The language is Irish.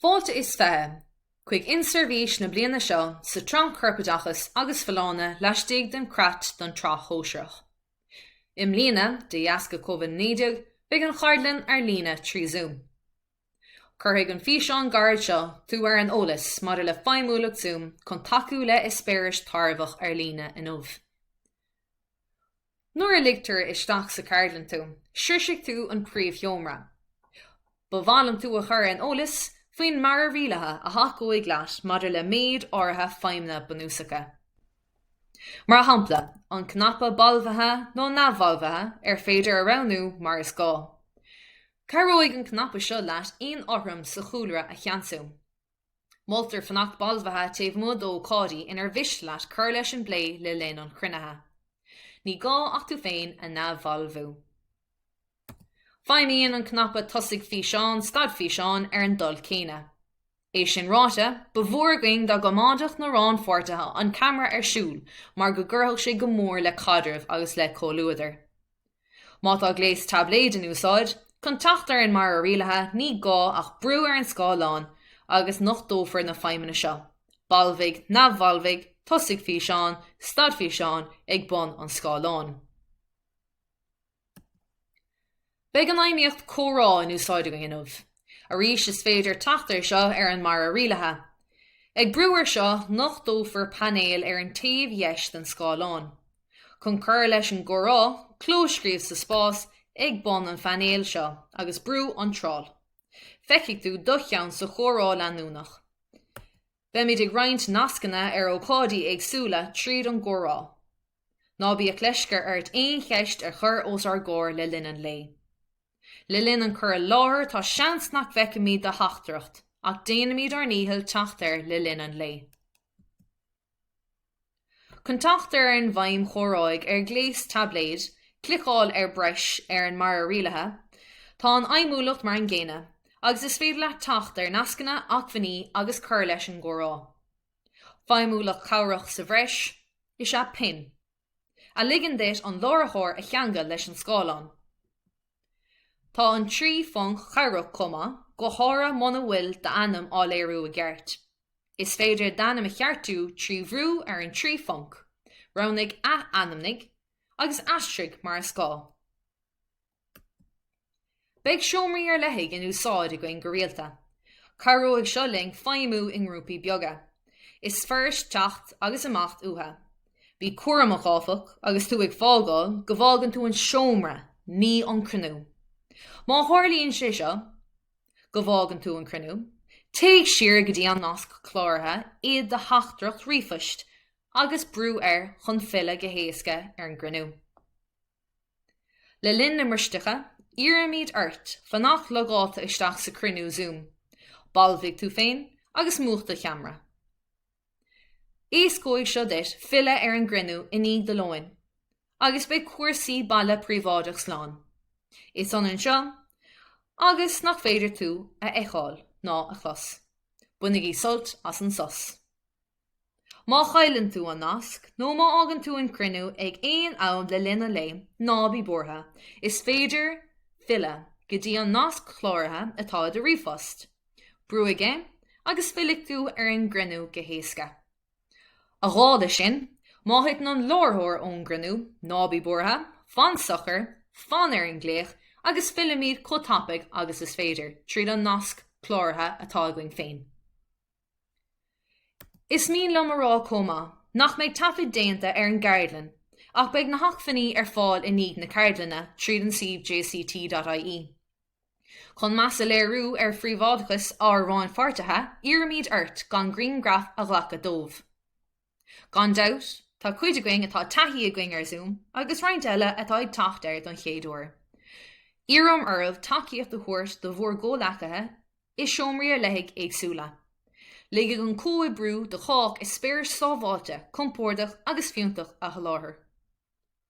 Fáilte is fiche chuig inseirbhís na bliana seo sa tSraith Corpoideachas agus Folláine laistigh den Chreat don tSraith Shóisearach. I mbliana, de dheasca Covid-19, beidh an cheardlann ar líne trí Zoom. Cuirfidh an físeán gairid seo tú ar an eolas maidir le feidhmiúlacht Zoom chun tacú le eispéireas tairbheach ar líne inniu. Nuair a ligtear isteach sa cheardlann tú, sroisfidh tú an príomhsheomra. Ba mhaith liom tú a chur ar an eolas faoin mbarra rialaithe a thacóidh leat maidir le méid áirithe feidhmeanna bunúsacha. Mar shampla, an cnaipe balbhaithe nó neamhbhalbhaithe ar féidir a roghnú mar is gá. Cabhróidh an cnaipe seo leat aon fhothram sa chúlra a cheansú. Moltar fanacht balbhaithe taobh amuigh d'ócáidí inar mhiste leat cur leis an bplé le linn an chruinnithe. Ní gá ach tú féin a neamhbhalbhú. Feidhmíonn an cnaipe Tosaigh Físeán, Stad Físeán ar an dul céanna. É sin ráite, ba mhór againn dá gcoimeádfadh na rannpháirtithe an ceamara ar siúl mar go gcuirfeadh sé go mór le caidreamh agus le comhluadar. Má tá gléas taibléid in úsáid, chun teacht ar an mbarra rialaithe ní gá ach brú ar an scáileán agus nochtófar na feidhmeanna seo, Balbhaigh, Neamhbhalbhaigh, Tosaigh Físeán, Stad Físeán, ag bun an scáileáin. Beidh an fheidhmíocht Comhrá in úsáid againn inniu. Arís is féidir teacht air seo ar an mbarra rialaithe. Ag brú ar seo, nochtófar painéal ar an taobh dheis den scáileán. Chun cur leis an gcomhrá, clóscríobh sa spás ag bun an phainéil seo agus brúigh Iontráil. Feicfidh tú do cheann sa chomhrá leanúnach. Beimid ag roinnt nascanna ar ócáidí éagsúla tríd an gcomhrá. Ná bíodh leisce ort aon cheist a chur os ár gcomhair le linn an lae. Le linn an cur i láthair tá seans nach bhfeicfimid do theachtaireacht ach déanfaimid ár ndícheall teacht air le linn an lae. Chun teacht ar an bhfeidhm chomhráidh ar ghléas taibléid cliceáil ar breis ar an mbarra rialaithe. Tá an fheidhmiúlacht mar an gcéanna agus is féidir leat teacht ar nascanna acmhainní agus cur leis an gcomhrá. Feidhmiúlacht chabhrach sa bhreis is ea Pin, a ligeann duit an láithreoir a cheangal leis an scáileán. Tá an trí phonc cabhrach chomh maith, go háirithe muna bhfuil d'ainm á léiriú i gceart. Is féidir d'ainm a cheartú trí bhrú ar an trí phonc, roghnaigh Ath-ainmnigh, agus aistrigh mar is gá. Beidh seomraí ar leithligh in úsáid againn go rialta. Cabhróidh seo linn feidhmiú i ngrúpaí beaga. Is fuirist teacht agus imeacht uatha. Bí cúramach, áfach, agus tú ag fágáil, go bhfágann tú an seomra, ní an cruinniú. Má tharlaíonn sé seo, go bhfágann tú an cruinniú, téigh siar go dtí an nasc cláraithe i do theachtaireacht ríomhphoist agus brúigh air chun filleadh go héasca ar an gcruinniú. Le linn na mbristeacha, iarraimid ort fanacht logáilte isteach sa cruinniú Zoom, balbhaigh tú féin agus múch do cheamra. Éascóidh seo duit filleadh ar an gcruinniú i ndiaidh do lóin agus beidh cúrsaí baile príobháideach slán. Is ionann seo agus nach féidir tú a fheiceáil ná a chlos. Bainigí sult as an sos. Má chailleann tú an nasc nó má fhágann tú an cruinniú ag aon am le linn an lae, ná bí buartha, is féidir filleadh go dtí an nasc cláraithe atá i do ríomhphost. Brúigh air agus fillfidh tú ar an gcruinniú go héasca. A dhála sin, má thiteann an láithreoir ón gcruinniú, ná bí buartha, fan socair, fan ar an nglaoch agus fillfimid chomh tapaidh agus is féidir, tríd an nasc cláraithe atá againn féin. Is mian liom a rá chomh maith nach mbeidh aon taifead déanta ar an gceardlann ach beidh na hacmhainní ar fáil i ndiaidh na ceardlainne tríd an suíomh jct.ie. Chun meas a léiriú ar phríobháideachas ár rannpháirtithe, iarraimid ort gan grianghraif a ghlacadh díobh. Gan dabht, tá cuid againn atá taithí againn ar Zoom agus roinnt eile atá ag teacht air don chéad uair. Iarraim oraibh tacaíocht a thabhairt do bhur gcomhleacaithe i seomraí ar leithligh éagsúla. Ligfidh an comhoibriú do chách eispéar sábháilte, compordach agus fiúntach a sholáthar.